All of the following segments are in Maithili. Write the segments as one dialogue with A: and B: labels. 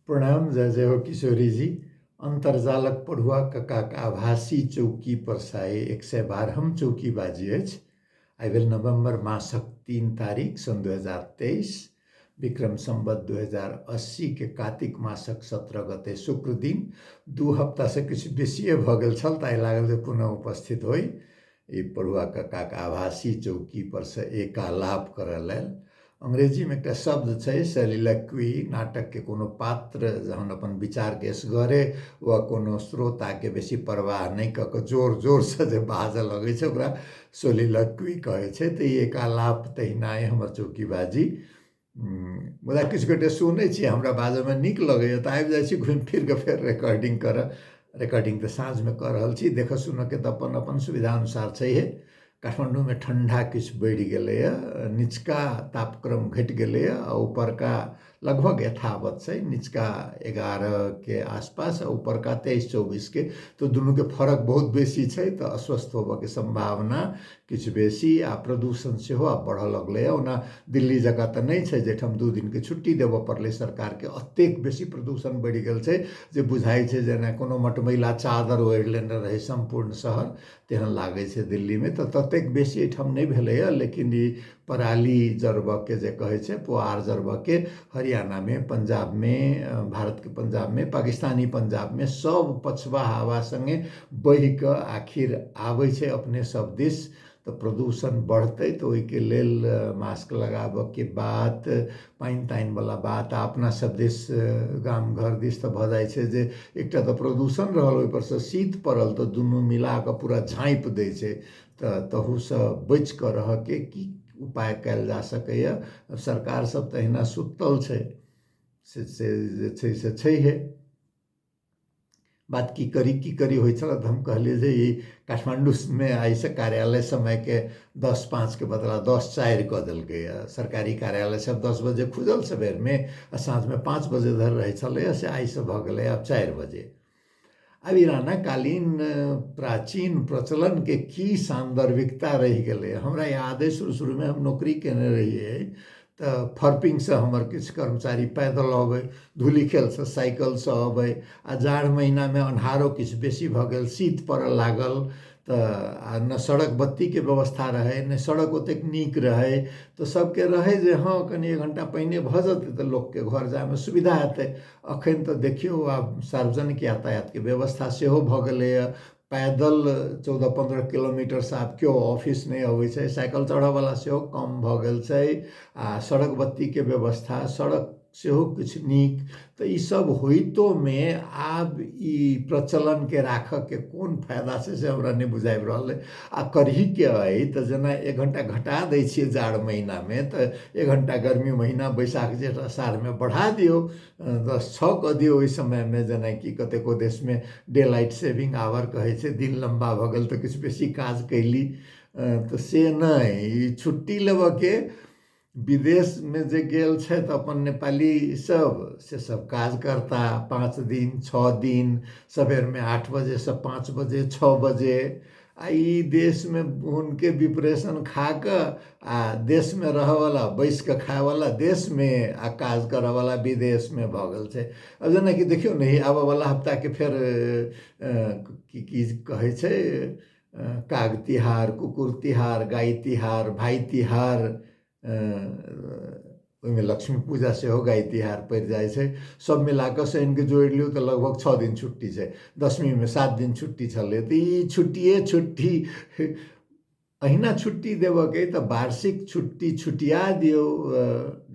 A: प्रणाम जय जय हो किशोरी जी अन्तर्जालक पढ़ुआ ककाक आभासी चौकी पर साय एक सय बारहम चौकी बाजी अछि आइ भेल नवम्बर मासक तीन तारीख सन् दू हजार तेइस विक्रम सम्बत दू हजार अस्सीके कातिक मासक सत्रह गते शुक्र दिन दू हप्तासँ किछु बेसिए भऽ गेल छल ताहि लागल जे पुनः उपस्थित होइ ई पढ़ुआ कक्काके आभासी चौकीपरसँ एक आलाप करय लेल अंग्रेजीमे एकटा शब्द छै सलिलक्वी नाटकके कोनो पात्र जहन अपन विचारके एसगरे वा कोनो श्रोताके बेसी परवाह नहि कऽ कऽ जोर जोरसँ जे बाजय लगै छै ओकरा सोलिलक्वी कहै छै तऽ ई एक आलाप तहिना अइ हमर चौकी बाजी मुदा किछु गोटे सुनै छी हमरा बाजैमे नीक लगैए तऽ आबि जाइ छी घुमि फिरिकऽ फेर रेकॉर्डिंग करऽ रेकॉर्डिंग तऽ साँझमे कऽ रहल छी देखऽ सुनऽके तऽ अपन अपन सुविधा अनुसार छैहे काठमाण्डूमे ठण्डा किछु बढ़ि गेलैए निचका तापक्रम घटि गेलैए आओर उपरका लगभग यथावत छै निचका एगारहके आसपास आओर उपरका तेइस चौबीसके तऽ दुनूके फर्क बहुत बेसी छै तऽ अस्वस्थ होबऽके सम्भावना किछु बेसी आ प्रदूषण सेहो आब बढ़ऽ लगलैए ओना दिल्ली जकाँ तऽ नहि छै जाहिठाम दू दिनके छुट्टी देबऽ पड़लै सरकारके एतेक बेसी प्रदूषण बढ़ि गेल छै जे बुझाइ छै जेना कोनो मटमैला चादर ओढ़ि लेने रहै सम्पूर्ण शहर तेहन लागै छै दिल्लीमे तऽ ततेक बेसी एहिठाम नहि भेलैए लेकिन ई पराली जरबयके जे कहै छै पुआर जरबयके हरियाणामे पंजाबमे भारतके पंजाबमे पाकिस्तानी पंजाबमे सभ पछवा हवा सङ्गे बहि कऽ आखिर आबै छै अपने सभ दिश तऽ प्रदूषण बढ़तै तऽ ओहिके लेल मास्क लगाबयके बात पानि तानिवला बात आ अपना सभ दिश गाम घर दिश तऽ भऽ जाइ छै जे एकटा तऽ प्रदूषण रहल ओहिपर सँ शीत पड़ल तऽ दुनू मिला कऽ पूरा झाँपि दै छै तऽ तहूसँ बचि कऽ रहयके की उपाय कयल जा सकैए सरकारसभ तऽ अहिना सुतल छै से से जे छै से छैहे बात की करी की करी होइ छलए तऽ हम कहलियै जे ई काठमाण्डूमे आइसँ कार्यालय समयके दस पाँचके बदला दस चारि कऽ देलकैए सरकारी कार्यालयसभ दस बजे खुजल सवेरमे आ साँझमे पाँच बजे धरि रहै छलैए से आइसँ भऽ गेलैए आब चारि बजे आब ईरानक कालीन प्राचीन प्रचलनके की सान्दर्भिकता रहि गेलै हमरा याद अइ शुरू शुरूमे हम नौकरी केने रहियै तऽ फर्पिंगसँ हमर किछु कर्मचारी पैदल अबै धूलिखेलसँ साइकिलसँ अबै आ जाड़ महीनामे अन्हारो किछु बेसी भऽ गेल शीत पड़ऽ लागल तऽ आ ने सड़क बत्तीके व्यवस्था रहै ने सड़क ओतेक नीक रहै तऽ सभके रहै जे हँ कनि एक घण्टा पहिने भऽ जेतै तऽ लोकके घर जायमे सुविधा हेतै अखन तऽ देखियौ आब सार्वजनिक यातायातके व्यवस्था सेहो भऽ गेलैए पैदल चौदह पन्द्रह किलोमीटरसँ आब केओ ऑफिस नहि अबै छै साइकिल चढ़ऽवला सेहो कम भऽ गेल छै आ सड़क बत्तीके व्यवस्था सड़क सेहो किछु नीक तऽ ई सब होइतोमे आब ई प्रचलनके राखऽके कोन फायदा छै से हमरा नहि बुझाबि रहल अइ आ करहीके अइ तऽ जेना एक घण्टा घटा दै छियै जाड़ महीनामे तऽ एक घण्टा गर्मी महीना बैसाख जेठ अषाढ़मे बढ़ा दियौ दस छओ कऽ दियौ ओहि समयमे जेनाकि कतेको देशमे डे लाइट सेविंग आवर कहै छै दिन लम्बा भऽ गेल तऽ किछु बेसी काज कयली तऽ से नहि ई छुट्टी लेबयके विदेशमे जे गेल छथि अपन नेपालीसभ से सभ काज करता पाँच दिन छओ दिन सवेरमे आठ बजेसँ पाँच बजे छओ बजे आ ई देशमे हुनके विप्रेशन खा कऽ आ देशमे रहयवला बैसि कऽ खायवला देशमे आ काज करयवला विदेशमे भऽ गेल छै आ जेनाकि देखियौ ने ई आबयवला हफ्ताके फेर की की कहै छै काग तिहार कुकुर तिहार गाइ तिहार भाइ तिहार ओहिमे लक्ष्मी पूजा सेहो गाइ तिहार पड़ि जाइ छै सब मिलाकऽ शनिके जोड़ि लियौ तऽ लगभग छओ दिन छुट्टी छै दसमीमे सात दिन छुट्टी छलै तऽ ई छुट्टिए छुट्टी अहिना छुट्टी देबऽके अइ तऽ वार्षिक छुट्टी छुटिया दियौ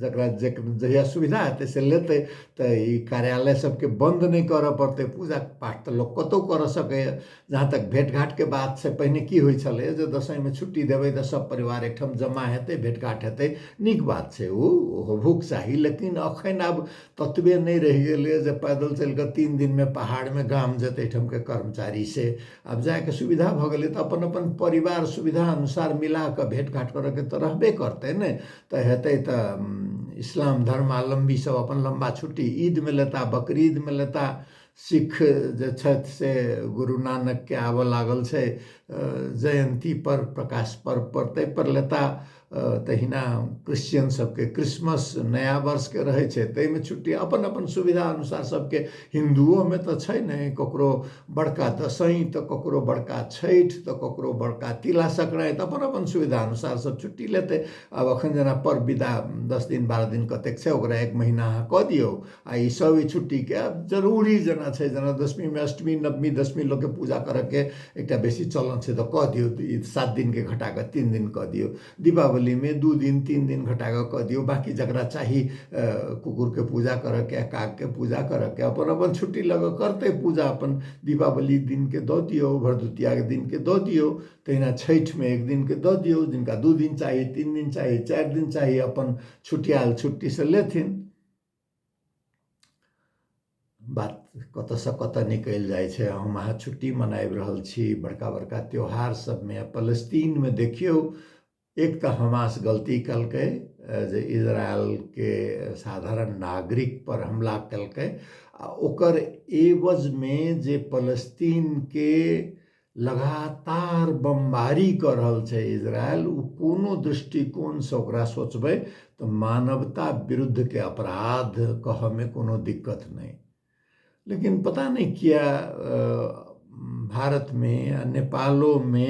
A: जकरा जे जहिया सुविधा हेतै से लेतै तऽ ई कार्यालय सबके बन्द नहि करऽ पड़तै पूजा पाठ तऽ लोक कतौ करऽ सकैए जहाँ तक भेटघाटके बात छै पहिने की होइ छलैए जे दसैँमे छुट्टी देबै तऽ सभ परिवार एकठाम जमा हेतै भेटघाट हेतै नीक बात छै ओ होबहोके चाही लेकिन एखन आब ततबे नहि रहि गेलैए जे पैदल चलि कऽ तीन दिनमे पहाड़मे गाम जेतै एहिठामके कर्मचारी से आब जायके सुविधा भऽ गेलै तऽ अपन अपन परिवार सुविधा अनुसार मिला कऽ भेटघाट करयके तऽ रहबे करतै ने तऽ हेतै तऽ इस्लाम धर्मावलम्बीसभ अपन लम्बा छुट्टी ईदमे लेताह बकरीदमे लेताह सिक्ख जे छथि से गुरु नानकके आबऽ लागल छै जयन्ती पर प्रकाश पर्व पर ताहि पर लेता तहिना क्रिश्चियन सबके क्रिसमस नया वर्षके रहै छै ताहिमे छुट्टी अपन अपन सुविधा अनुसार सबके हिन्दुओमे तऽ छै नहि ककरो बड़का दसैँ तऽ ककरो बड़का छठि तऽ ककरो बड़का तिला सङ्क्रान्ति अपन अपन सुविधा अनुसार सब छुट्टी लेतै आब अखन जेना पर्व विदा दस दिन बारह दिन कतेक छै ओकरा एक महिना अहाँ कऽ दियौ आ ई सब ई छुट्टीके आब जरूरी जेना छै जेना दशमीमे अष्टमी नवमी दशमी लोकके पूजा करऽके एकटा बेसी चलन छै तऽ कऽ दियौ तऽ ई सात दिनके घटा कऽ तीन दिन कऽ दियौ दीपावलीमे दू दिन तीन दिन घटा कऽ कऽ दियौ बाँकी जकरा चाही कुकुरके पूजा करऽके कागके पूजा करऽके अपन अपन छुट्टी लऽ कऽ करतै पूजा अपन दीपावली दिनके दऽ दियौ भरदुतियाके दिनके दऽ दियौ तहिना छठिमे एक दिनके दऽ दियौ जिनका दू दिन चाही तीन दिन चाही चारि दिन चाही अपन छुट्टी आयल छुट्टीसँ लेथिन बात कतयसँ कतय निकलि जाइ छै हम अहाँ छुट्टी मनाबि रहल छी बड़का बड़का त्यौहार सभमे फलस्तीनमे देखियौ एक तऽ हमास गलती कयलकै जे इजरायलके साधारण नागरिकपर हमला कयलकै आ ओकर एवजमे जे फलस्तीनके लगातार बमबारी कऽ रहल छै इजरायल ओ कोनो दृष्टिकोणसँ ओकरा सोचबै तऽ मानवता विरुद्धके अपराध कहऽमे कोनो दिक्कत नहि लेकिन पता नहि किए भारतमे आ नेपालोमे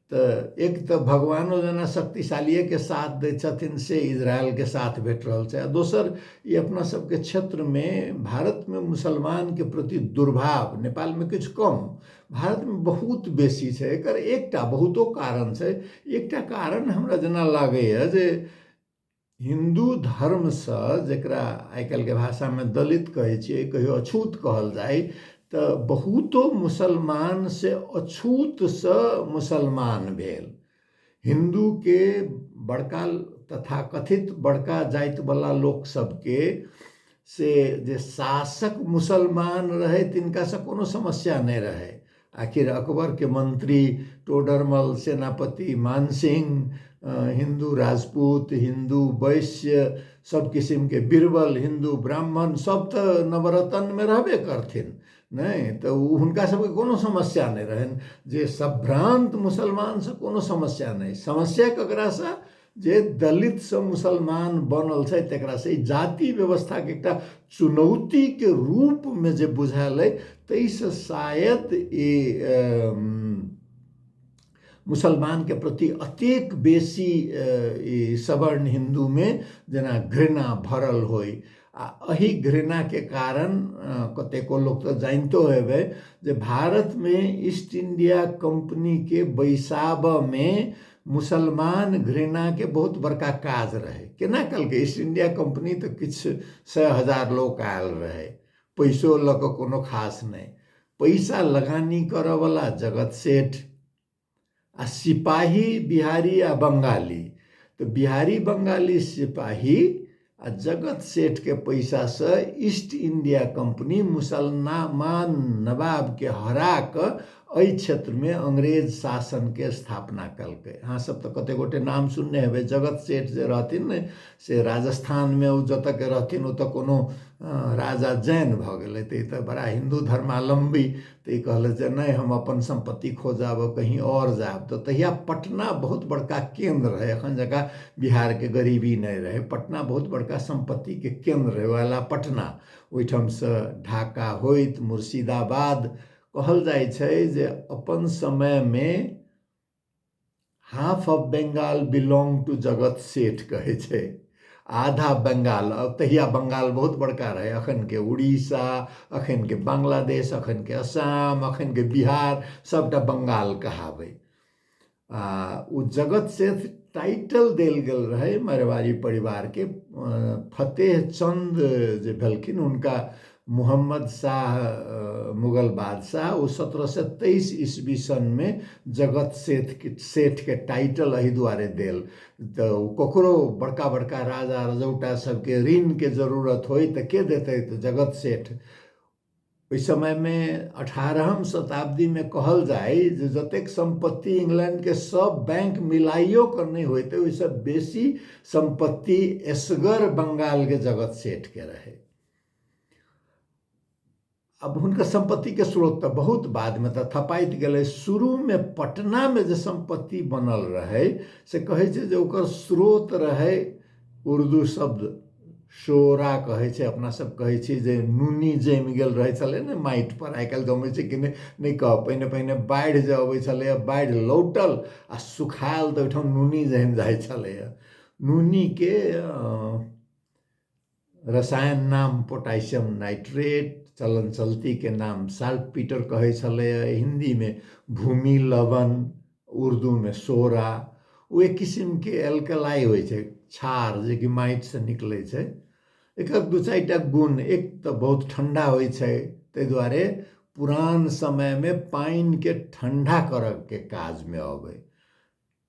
A: तऽ एक तऽ भगवानो जेना शक्तिशालीएके साथ दै छथिन से इजरायलके साथ भेट रहल छै आ दोसर ई अपना सबके क्षेत्रमे भारतमे मुसलमानके प्रति दुर्भाव नेपालमे किछु कम भारतमे बहुत बेसी छै एकर एकटा बहुतो कारण छै एकटा कारण हमरा जेना लागैए जे हिन्दू धर्मसँ जकरा आइ काल्हिके भाषामे दलित कहै छियै कहियो अछूत कहल जाइ तऽ बहुतो मुसलमान से अछूतसँ मुसलमान भेल हिन्दूके बड़का तथाकथित बड़का जातिवला लोक सबके से जे शासक मुसलमान रहै तिनकासँ कोनो समस्या नहि रहै आखिर अकबरके मन्त्री टोडरमल सेनापति मानसिंह हिन्दू राजपूत हिन्दू वैश्य सब किसिमके बीरबल हिन्दू ब्राह्मण सब तऽ नवरत्नमे रहबे करथिन नहि तऽ ओ हुनका सबके कोनो समस्या नहि रहनि जे सब भ्रान्त मुसलमानसँ कोनो समस्या नहि समस्या ककरासँ जे दलितसँ मुसलमान बनल छै तकरासँ ई जाति व्यवस्थाके एकटा चुनौतीके रूपमे जे बुझायल अइ ताहिसँ शायद ई मुसलमानके प्रति अतेक बेसी ई सवर्ण हिन्दूमे जेना घृणा भरल होइ आ एहि घृणाके कारण कतेको लोक तऽ जानितो हेबै जे भारतमे ईस्ट इंडिया कंपनीके बैसाबऽमे मुसलमान घृणाके बहुत बड़का काज रहै केना कलकै ईस्ट इंडिया कंपनी तऽ किछु सए हजार लोक आयल रहै पैसो लऽ कऽ कोनो खास नहि पैसा लगानी करऽवला जगत सेठ आ सिपाही बिहारी आ बंगाली तऽ बिहारी बंगाली सिपाही आ जगत सेठ के पैसा से ईस्ट इंडिया कंपनी मुसलमान नवाब के हरा कऽ एहि क्षेत्र में अंग्रेज शासन के स्थापना कलकै अहाँ सब तऽ कते गोटे नाम सुनने हेबै जगत सेठ जे रहथिन ने से राजस्थान में ओ जतऽ के रहथिन ओतऽ कोनो राजा जैन भऽ गेलै तऽ ई तऽ बड़ा हिन्दू धर्मावलम्बी तऽ ई कहलथि जे नहि हम अपन सम्पत्ति खोजब कहीँ आओर जायब तऽ तहिया पटना बहुत बड़का केन्द्र रहै एखन जकाँ बिहारके गरीबी नहि रहै पटना बहुत बड़का सम्पत्तिके केन्द्र रहै वएह लए पटना ओहिठामसँ ढाका होइत मुर्शिदाबाद कहल जाइ छै जे अपन समयमे half of Bengal belong to Jagat Seth कहै छै आधा बंगाल तहिया बंगाल बहुत बड़का रहै अखनके उड़ीसा अखनके बांग्लादेश अखनके असम अखनके बिहार सभटा बंगाल कहाबै आ ओ जगत सेठ टाइटल देल गेल रहै मरवाड़ी परिवारके फतेह चंद जे भेलखिन हुनका मोहम्मद शाह मुगल बादशाह ओ सत्रह सए तेइस ईस्वी सनमे जगत सेठके सेठके टाइटल एहि दुआरे देल तऽ ओ ककरो बड़का बड़का राजा रजौटा सबके ऋणके जरूरत होइ तऽ के देतै तऽ जगत सेठ ओहि समयमे अठारहम शताब्दीमे कहल जाय जे जतेक सम्पत्ति इंग्लैंडके सब बैंक मिलाइयो कऽ नहि होइत ओहिसँ बेसी सम्पत्ति एसगर बंगालके जगत सेठके रहै अब हुनकर संपत्ति के स्रोत तऽ बहुत बाद में तऽ थपाइत गेलै शुरू में पटना में जे संपत्ति बनल रहे से कहे छै जे ओकर स्रोत रहे उर्दू शब्द शोरा कहे छै अपना सब कहे छी जे नूनी जम गेल रहे छले ने माटि पर आइ काल्हि जमै छै कि नहि नहि कह पहिने पहिने बाढ़ि जे अबै छलैए बाढ़ि लौटल आ सुखायल तऽ ओहिठाम नूनी जम जाइ छलैए नूनी के रसायन नाम पोटासियम नाइट्रेट चलन चलतीके नाम साल्ट पीटर कहै छलैए हिन्दीमे भूमि लवन उर्दूमे सोरा ओ एक किसिमके एल्कलाइ होइ छै क्षार जेकि माटिसँ निकलै छै एकर दू चारि टा गुण एक तऽ बहुत ठण्डा होइ छै ताहि दुआरे पुरान समयमे पानिकेँ ठण्डा करयके काजमे अबै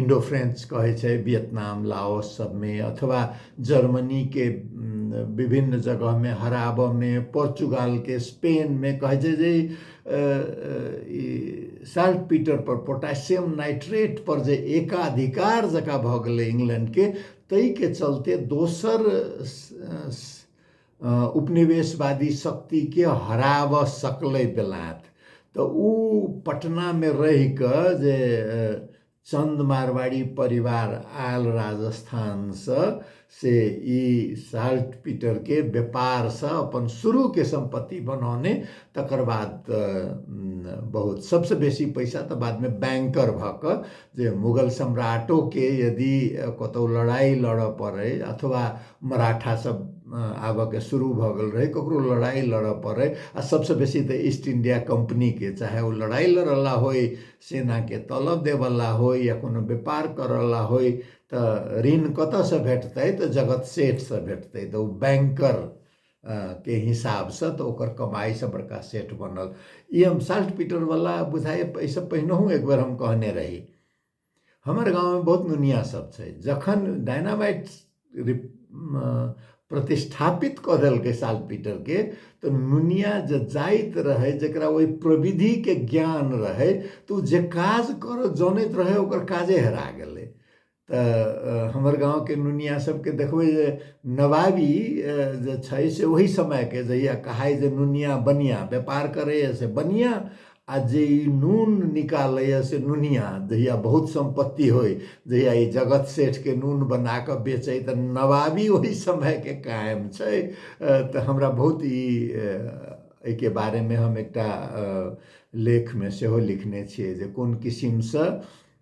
A: इन्डो फ्रेन्च कहै छै वियतनाम लाओस सबमे अथवा जर्मनीके विभिन्न जगहमे हराबऽमे पोर्चुगालके स्पेनमे कहै छै जे ई साल्ट पीटर पर पोटासियम नाइट्रेट पर जे एकाधिकार जकाँ भऽ गेलै इंग्लैंडके ताहिके चलते दोसर उपनिवेशवादी शक्तिके हराब सकलै बेलायत तऽ ओ पटनामे रहि कऽ जे चन्द मारवाड़ी परिवार आयल राजस्थानसँ से ई साल्ट पीटरके व्यापारसँ अपन शुरूके सम्पत्ति बनौने तकर बाद बहुत सभसँ बेसी पैसा तऽ बादमे बैंकर भऽ कऽ जे मुगल सम्राटोके यदि कतहु लड़ाइ लड़ऽ पड़ै अथवा मराठासब आबऽके शुरू भऽ गेल रहै ककरो लड़ाइ लड़ऽ पड़ै आओर सबसँ बेसी तऽ ईस्ट इण्डिया कम्पनीके चाहे ओ लड़ाइ लड़ऽवला होइ सेनाके तलऽ दैवला होइ या कोनो बेपार करऽवला होइ तऽ ऋण कतऽसँ भेटतै तऽ जगत सेठसँ भेटतै तऽ ओ बैंकर के हिसाबसँ तऽ ओकर कमाइसँ बड़का सेठ बनल ई हम साल्ट पीटरवला बुझाइ एहिसँ पहिनहु एक बेर हम कहने रही हमर गाँवमे बहुत नुनिया सब छै जखन डायनामाइट प्रतिष्ठापित कऽ देलकै साल्ट पीटरके तऽ नुनिया जे जाइत रहै जकरा ओहि प्रविधिके ज्ञान रहै तऽ ओ जे काज करऽ जनैत रहै ओकर काजे हेरा गेलै तऽ हमर गाँवके नुनिया सबके देखबै जे नवाबी जे छै से ओहि समयके जहिया कहाइ जे नुनिया बनिया व्यापार करैए से बनिया आ जे ई नून निकालैए से नुनिया जहिया बहुत सम्पत्ति होइ जहिया ई जगत सेठके नून बना कऽ बेचै तऽ नवाबी ओहि समयके कायम छै तऽ हमरा बहुत ई एहिके बारेमे हम एकटा लेखमे सेहो लिखने छियै जे कोन किसिमसँ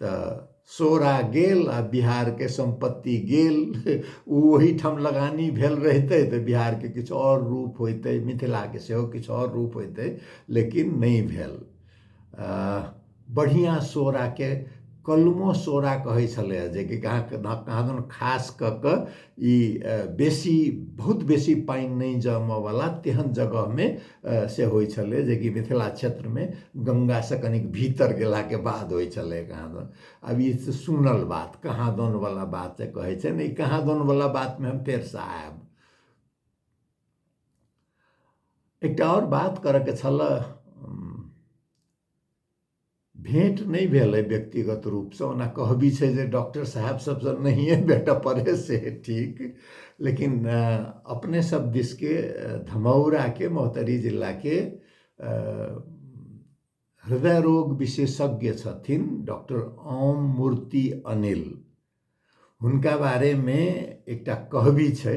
A: तऽ सोरा गेल आ बिहारके सम्पत्ति गेल ओ ओहीठाम लगानी भेल रहितै तऽ बिहारके किछु आओर रूप होइतै मिथिलाके सेहो किछु आओर रूप होइतै लेकिन नहि भेल बढ़िआँ सोराके कलमो सोरा कहै छलैए जेकि कहाँ कहाँ दन खास कऽ कऽ ई बेसी बहुत बेसी पानि नहि जमऽवला तेहन जगहमे से होइ छलै जेकि मिथिला क्षेत्रमे गंगासँ कनिक भीतर गेलाके बाद होइ छलै कहाँदन आब ई तऽ सुनल बात कहाँदनवला बात जे कहै छै ने ई कहाँदनवला बातमे हम फेरसँ आयब एकटा आओर बात करयके छलऽ भेँट नहि भेल अइ व्यक्तिगत रूपसँ ओना कहबी छै जे डॉक्टर साहेब सभसँ नहिए भेटय पड़य से ठीक लेकिन अपने सभ दिसके धमौराके महोत्तरी जिलाके हृदय रोग विशेषज्ञ छथिन डॉक्टर ओम मूर्ति अनिल हुनका बारेमे एकटा कहबी छै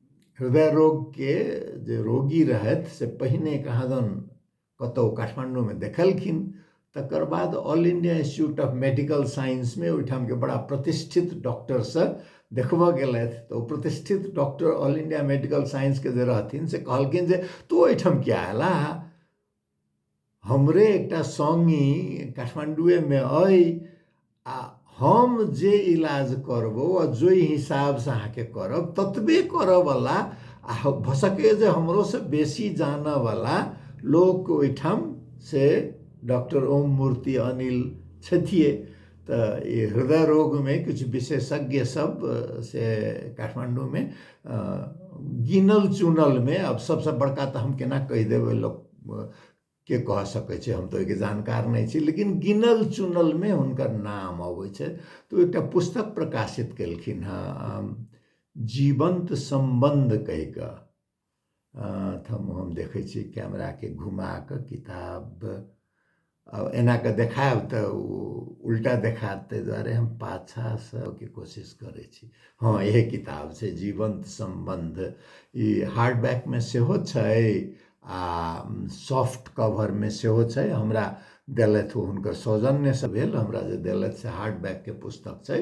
A: हृदय रोगके जे रोगी रहथि से पहिने कहाँ दन कतहु काठमाण्डूमे देखलखिन तकर बाद all India institute of medical साइंसमे ओहिठामके बड़ा प्रतिष्ठित डॉक्टरसँ देखबऽ गेलथि तऽ ओ प्रतिष्ठित डॉक्टर ऑल इंडिया मेडिकल साइंसके जे रहथिन से कहलखिन जे तू ओहिठाम किया अयला हमरे एकटा संगी काठमांडूए में अई आ हम जे इलाज करबो आ जो हिसाब से अहाँ के करब ततबे करे वाला आ भसके जे हमरो से बेसी जाने वाला लोग ओठाम से डॉक्टर ओम मूर्ति अनिल छथिए तऽ ई हृदय रोगमे किछु विशेषज्ञ सब से काठमाण्डूमे गिनल चुनलमे आब सबसँ बड़का तऽ हम केना कहि देबै लोक के कह सकै छै हम तऽ ओहिके जानकार नहि छी लेकिन गिनल चुनलमे हुनकर नाम अबै छै तऽ ओ एकटा पुस्तक प्रकाशित केलखिन हँ जीवन्त सम्बन्ध कहि कऽ ठाम हम देखै छी कैमराके घुमा कऽ किताब आ एना कऽ देखायब तऽ ओ उल्टा देखायत ताहि दुआरे हम पाछाँसँ के कोशिश करै छी हँ इएह किताब छै जीवन्त सम्बन्ध ई हार्ड बैकमे सेहो छै आ सॉफ्ट कवरमे सेहो छै हमरा देलथि ओ हुनकर सौजन्यसँ भेल हमरा जे देलथि से हार्ड बैकके पुस्तक छै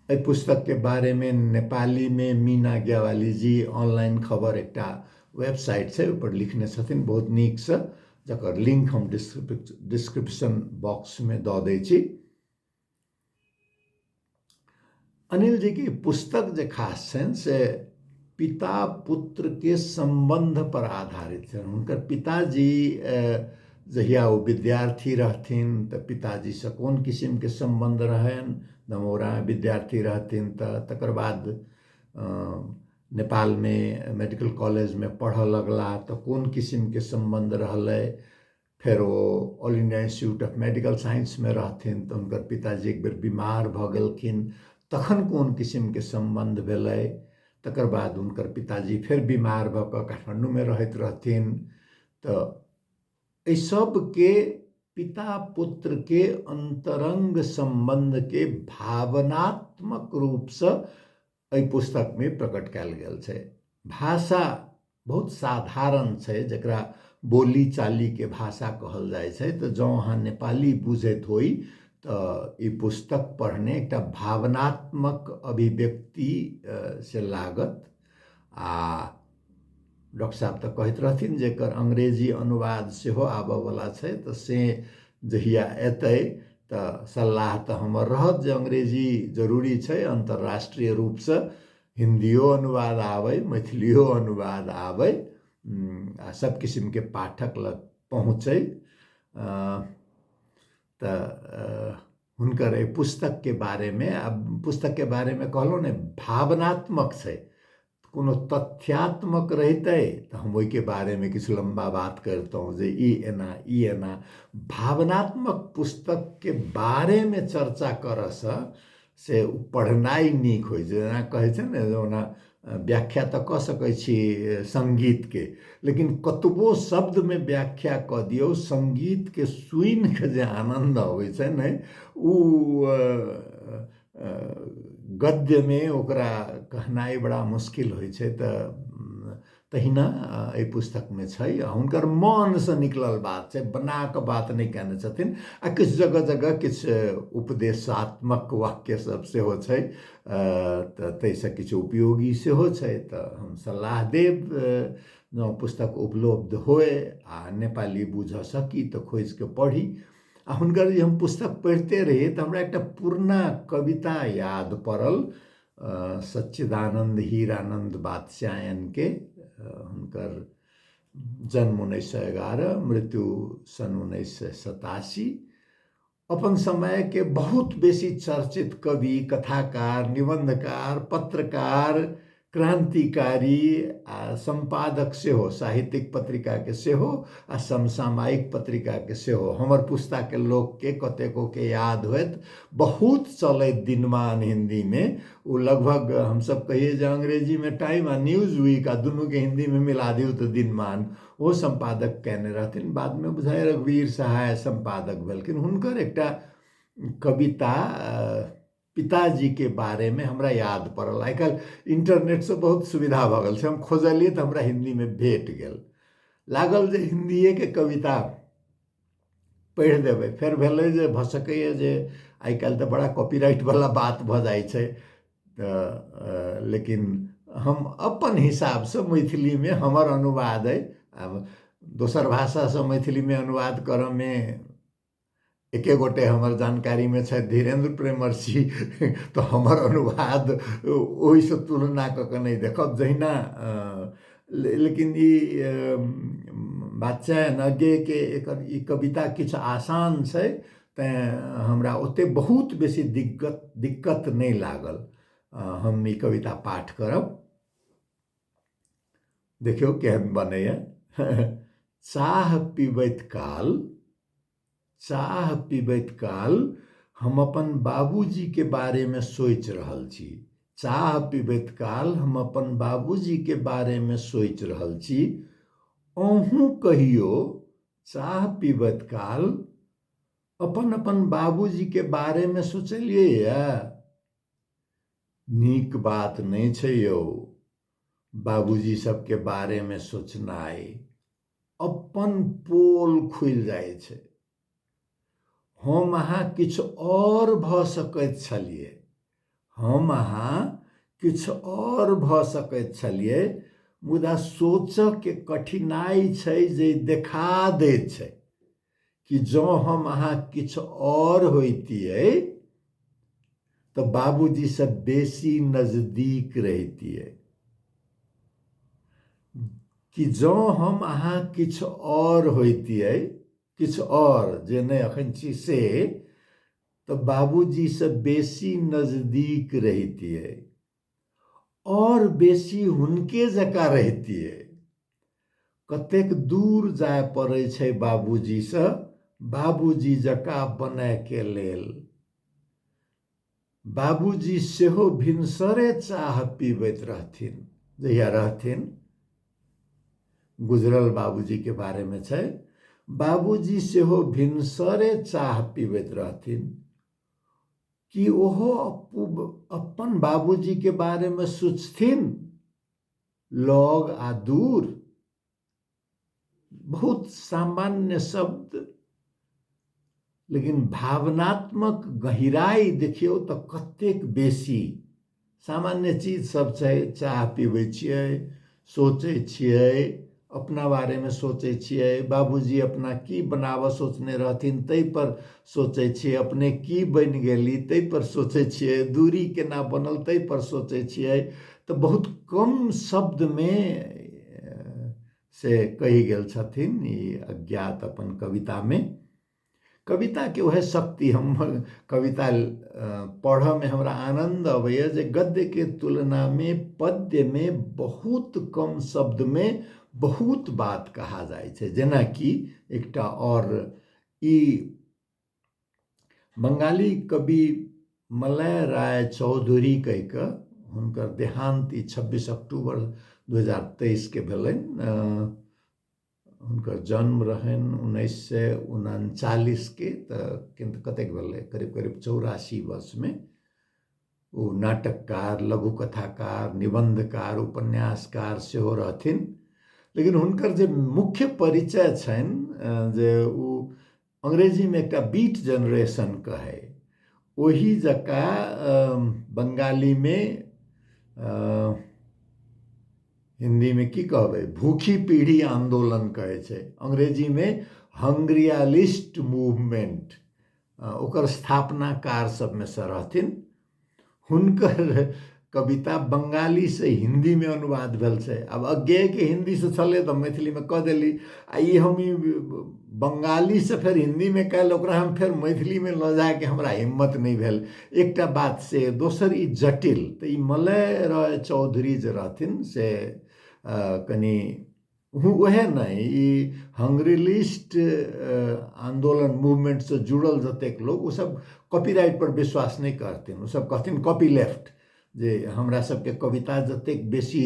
A: एहि पुस्तक के बारे मे नेपाली मे मीना ज्ञवाली जी ऑनलाइन खबर एकटा वेबसाइट छै ओहिपर लिखने छथिन बहुत नीकसँ जकर लिंक हम डिस्क्रिप्शन बॉक्समे दऽ दै छी अनिल जी के पुस्तक जे खास छनि से पिता पुत्रके सम्बन्धपर आधारित छनि हुनकर पिताजी जहिया ओ विद्यार्थी रहथिन तऽ पिताजीसँ कोन किसिमके सम्बन्ध रहनि दमौरा विद्यार्थी रहथिन तऽ तकर बाद नेपालमे मेडिकल कॉलेजमे पढ़ऽ लगला तऽ कोन किसिमके सम्बन्ध रहलै फेर ओ all India institute of medical साइंसमे रहथिन तऽ हुनकर पिताजी एक बेर बीमार भऽ गेलखिन तखन कोन किसिमके सम्बन्ध भेलै तकर बाद हुनकर पिताजी फेर बीमार भऽ कऽ काठमाण्डूमे रहैत रहथिन तऽ एहि सभके पिता पुत्रके अन्तरङ्ग सम्बन्धके भावनात्मक रूपसँ एहि पुस्तकमे प्रकट कयल गेल छै भाषा बहुत साधारण छै जकरा बोली चालीके भाषा कहल जाइ छै तऽ जँ अहाँ नेपाली बुझैत होइ तऽ ई पुस्तक पढ़ने एकटा भावनात्मक अभिव्यक्ति से लागत आ डॉक्टर साहेब तऽ कहैत रहथिन जे एकर अंग्रेजी अनुवाद सेहो आबयवला छै तऽ से जहिया अयतै तऽ सलाह तऽ हमर रहत जे अंग्रेजी जरूरी छै अन्तर्राष्ट्रीय रूपसँ हिन्दिओ अनुवाद आबै मैथिलिओ अनुवाद आबै आ सभ किसिमके पाठक लग पहुँचै तऽ हुनकर एहि पुस्तकके बारेमे आ पुस्तकके बारेमे कहलहुँ ने भावनात्मक छै कोनो तथ्यात्मक रहितै तऽ हम ओहिके बारेमे किछु लम्बा बात करितहुँ जे ई एना ई एना भावनात्मक पुस्तकके बारेमे चर्चा करऽसँ से ओ पढ़नाइ नीक होइ छै जेना कहै छै ने जे ओना व्याख्या तऽ कऽ सकै छी सङ्गीतके लेकिन कतबो शब्दमे व्याख्या कऽ दियौ सङ्गीतके सुनि कऽ जे आनन्द अबै छै ने ओ गद्यमे ओकरा कहनाइ बड़ा मुश्किल होइ छै तऽ तहिना एहि पुस्तकमे छै आ हुनकर मनसँ निकलल बात छै बना कऽ बात नहि कयने छथिन आ किछु जगह जगह किछु उपदेशात्मक वाक्य सभ सेहो छै तऽ ताहिसँ किछु उपयोगी सेहो छै तऽ हम सलाह देब जँ पुस्तक उपलब्ध होय आ नेपाली बुझऽ सकी तऽ खोजि कऽ पढ़ी आ हुनकर जे हम पुस्तक पढ़िते रही तऽ हमरा एकटा पुरना कविता याद पड़ल सच्चिदानन्द हीरानन्द बादशायनके हुनकर जन्म उन्नैस सए एगारह मृत्यु सन् उन्नैस सए सतासी अपन समयके बहुत बेसी चर्चित कवि कथाकार निबन्धकार पत्रकार क्रान्तिकारी आ सम्पादक सेहो साहित्यिक पत्रिकाके सेहो आ समसामयिक पत्रिकाके सेहो हमर पुस्ताके लोकके कतेकोके याद होइत बहुत चलैत दिनमान हिन्दीमे ओ लगभग हमसभ कहिए जे अङ्ग्रेजीमे टाइम आ न्यूज वीक आ दुनूके हिन्दीमे मिला दियौ तऽ दिनमान ओ सम्पादक कयने रहथिन बादमे बुझाइ रघुवीर सहाय सम्पादक भेलखिन हुनकर एकटा कविता पिताजीके बारेमे हमरा याद पड़ल आइ काल्हि इन्टरनेटसँ बहुत सुविधा भऽ गेल छै हम खोजलियै तऽ हमरा हिन्दीमे भेट गेल लागल जे हिन्दिएके कविता पढ़ि देबै फेर भेलै जे भऽ सकैए जे आइ काल्हि तऽ बड़ा कॉपीराइटवला बात भऽ जाइ छै तऽ लेकिन हम अपन हिसाबसँ मैथिलीमे हमर अनुवाद अइ आब दोसर भाषासँ मैथिलीमे अनुवाद करयमे एके गोटे हमर जानकारीमे छथि धीरेन्द्र प्रेमर्षि तऽ हमर अनुवाद ओहिसँ तुलना कऽ कऽ नहि देखब जहिना लेकिन ई बादशाह नगेके एकर ई कविता किछु आसान छै तैँ हमरा ओतेक बहुत बेसी दिक्कत दिक्कत नहि लागल हम ई कविता पाठ करब देखियौ केहन बनैए चाह पीबैत काल चाह पीबैत काल हम अपन बाबूजीके बारेमे सोचि रहल छी चाह पीबैत काल हम अपन बाबूजीके बारेमे सोचि रहल छी अहूँ कहियो चाह पीबैत काल अपन अपन बाबूजीके बारेमे सोचलियैए नीक बात नहि छै यौ बाबूजी सबके बारे में सोचनाय अपन पोल खुल जाय छै हम अहा किछ और भ सकैत छलिए हम अहा किछ और भ सकैत छलिए मुदा सोचक के कठिनाई छै जे देखा दे छै कि जँ हम अहाँ किछु आओर होइतियै तऽ बाबूजीसँ बेसी नजदीक रहितियै कि जँ हम अहाँ किछु आओर होइतियै किछु आओर जे नहि एखन छी से तऽ बाबूजीसँ बेसी नजदीक रहितियै और बेसी हुनके जकाँ रहतिए कतेक दूर जाय पड़ै छै बाबूजी से बाबूजी जकाँ बनय के लेल बाबूजी सेहो भिनसरे चाह पीबैत रहथिन जहिया रहथिन गुजरल बाबूजी के बारे में छै बाबूजी सेहो भिनसरे चाह पीबैत रहथिन कि ओहो अपन बाबूजी के बारे में सोचथिन लग आ दूर बहुत सामान्य शब्द लेकिन भावनात्मक गहिराई देखियौ तऽ कतेक बेसी सामान्य चीज सब छै चाह पीबै छियै सोचै छियै अपना बारेमे सोचै छियै बाबूजी अपना की बनाबऽ सोचने रहथिन ताहिपर सोचै छियै अपने की बनि गेली ताहिपर सोचै छियै दूरी केना बनल ताहिपर सोचै छियै तऽ बहुत कम शब्दमे से कहि गेल छथिन ई अज्ञात अपन कवितामे कविताके उएह शक्ति हम कविता पढ़यमे हमरा आनन्द अबैए जे गद्यके तुलनामे पद्यमे बहुत कम शब्दमे बहुत बात कहा जाइ छै जेनाकि एकटा आओर ई बंगाली कवि मलय राय चौधरी कहि कऽ हुनकर देहान्त ई छब्बीस अक्टूबर दू हजार तेइसके भेलनि हुनकर जन्म रहनि उन्नैस सए उनचालिसके तऽ किन्त कतेक भेलै करीब करीब चौरासी वर्षमे ओ नाटककार लघु कथाकार निबन्धकार उपन्यासकार सेहो रहथिन लेकिन हुनकर जे मुख्य परिचय छनि जे ओ अंग्रेजीमे एकटा बीट जेनरेशन कहै ओही जकाँ बंगालीमे हिन्दीमे की कहबै भूखी पीढ़ी आन्दोलन कहै छै अंग्रेजीमे हंग्रियालिस्ट मूवमेंट ओकर स्थापनाकार सभमे सँ रहथिन हुनकर कविता बंगालीसँ हिन्दीमे अनुवाद भेल छै आब अज्ञेयके हिन्दीसँ छलै तऽ मैथिलीमे कऽ देली आ ई हम ई बंगालीसँ फेर हिन्दीमे कयल ओकरा हम फेर मैथिलीमे लऽ जायके हमरा हिम्मत नहि भेल एकटा बात से दोसर ई जटिल तऽ ई मलय रॉय चौधरी जे रहथिन से कनि उएह नहि ई हंगरीलिस्ट आंदोलन मूवमेंट से जुड़ल जतेक लोग ओ सब कॉपीराइट पर विश्वास नहि करथिन ओ सब कहथिन कॉपी लेफ्ट जे हमरा सबके कविता जतेक बेसी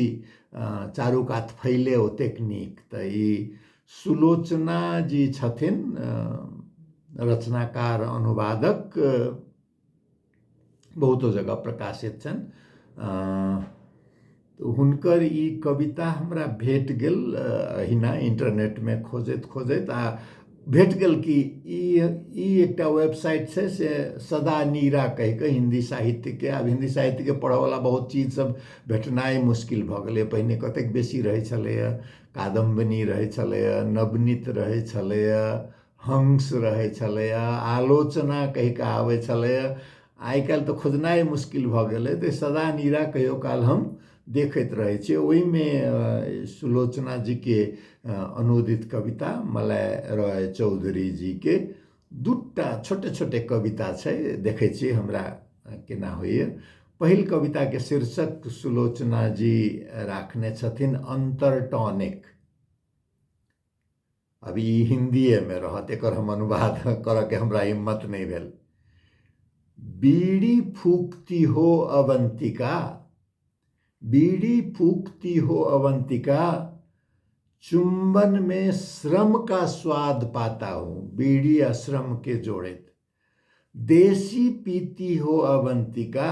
A: चारू कात फैले ओतेक नीक तऽ ई सुलोचना जी छथिन रचनाकार अनुवादक बहुतो जगह प्रकाशित छनि तऽ हुनकर ई कविता हमरा भेट गेल अहिना इंटरनेटमे खोजैत खोजैत आ भेट गेल कि ई ई एकटा वेबसाइट छै से सदा नीरा कहिके हिन्दी साहित्यके आब हिन्दी साहित्यके पढ़यवला बहुत चीजसभ भेटनाइ मुश्किल भऽ गेलैए पहिने कतेक बेसी रहै छलैए कादम्बिनी रहै छलैए नवनीत रहै छलैए हंस रहै छलैए आलोचना कहि कऽ आबै छलैए आइ काल्हि तऽ खोजनाइ मुश्किल भऽ गेलै तऽ सदा नीरा कहियो काल हम देखैत रहै छी ओहिमे सुलोचना जीके अनुदित कविता मलाय रॉय चौधरी जीके दूटा छोटे छोटे कविता छै देखै छी हमरा केना होइए पहिल कविताके शीर्षक सुलोचना जी राखने छथिन अन्तरटॉनिक अब ई हिन्दिएमे रहत एकर हम अनुवाद करऽके हमरा हिम्मत नहि भेल बीड़ी फूकती हो अवंतिका बीड़ी फूकती हो अवंतिका चुंबन में श्रम का स्वाद पाता हूँ बीड़ी आ श्रम के जोड़ैत देसी पीती हो अवंतिका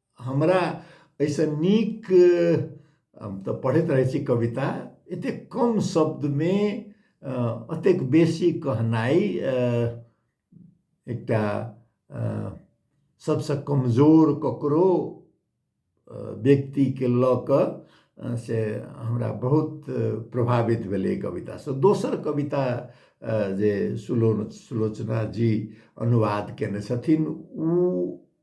A: हमरा एहिसँ नीक हम तऽ पढ़ैत रहै छी कविता एतेक कम शब्दमे एतेक बेसी कहनाइ एकटा सभसँ कमजोर ककरो व्यक्तिके लऽ कऽ से हमरा बहुत प्रभावित भेलै कवितासँ दोसर कविता जे सुलो सुलोचना जी अनुवाद कयने छथिन ओ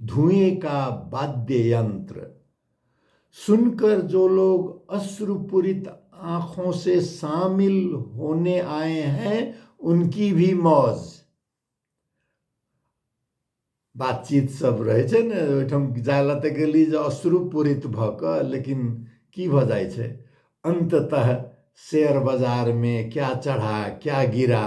A: धुएं का वाद्य यंत्र सुनकर जो लोग अश्रुपुरित आंखों से शामिल होने आए हैं उनकी भी मौज बातचीत सब रहे छे ने ओहिठाम जाय ला तऽ गेली जे अश्रुपूरित भऽ कऽ लेकिन की भऽ जाइ छै अंततः शेयर बाजार में क्या चढ़ा क्या गिरा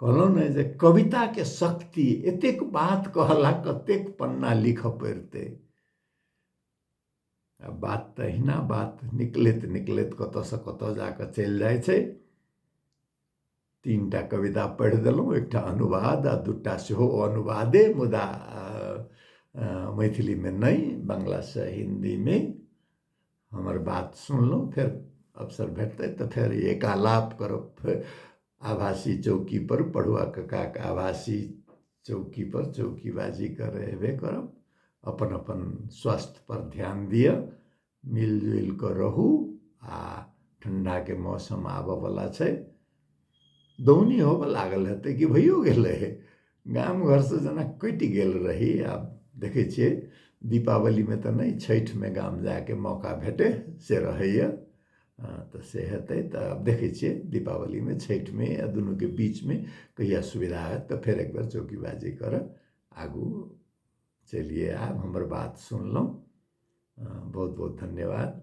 A: कहलहुँ ने जे कविताके शक्ति एतेक बात कहला कतेक पन्ना लिखऽ पड़तै आ बात तऽ अहिना बात निकलैत निकलैत कतऽसँ कतऽ जा कऽ चलि जाइ छै तीनटा कविता पढ़ि देलहुँ एकटा अनुवाद आ दूटा सेहो अनुवादे मुदा मैथिलीमे नहि बंगलासँ हिन्दीमे हमर बात सुनलहुँ फेर अवसर भेटतै तऽ फेर एकालाप करब फेर आभासी चौकीपर पढ़ुआ कक्काके आभासी चौकीपर चौकीबाजी करय अयबे करब अपन अपन स्वास्थ्यपर ध्यान दिअ मिलि जुलि कऽ रहू आ ठण्ढाके मौसम आबयवला छै दौनी होबऽ लागल हेतै कि भइयो गेलै गाम घरसँ जेना कटि गेल रही आब देखै छियै दीपावलीमे तऽ नहि छठिमे गाम जायके मौका भेटै से रहैए तऽ से हेतै तऽ आब देखै छियै दीपावलीमे छठिमे या दुनूके बीचमे कहिया सुविधा हएत तऽ फेर एकबेर चौकीबाजी करऽ आगू चलिये आयब हमर बात सुनलहुँ बहुत बहुत धन्यवाद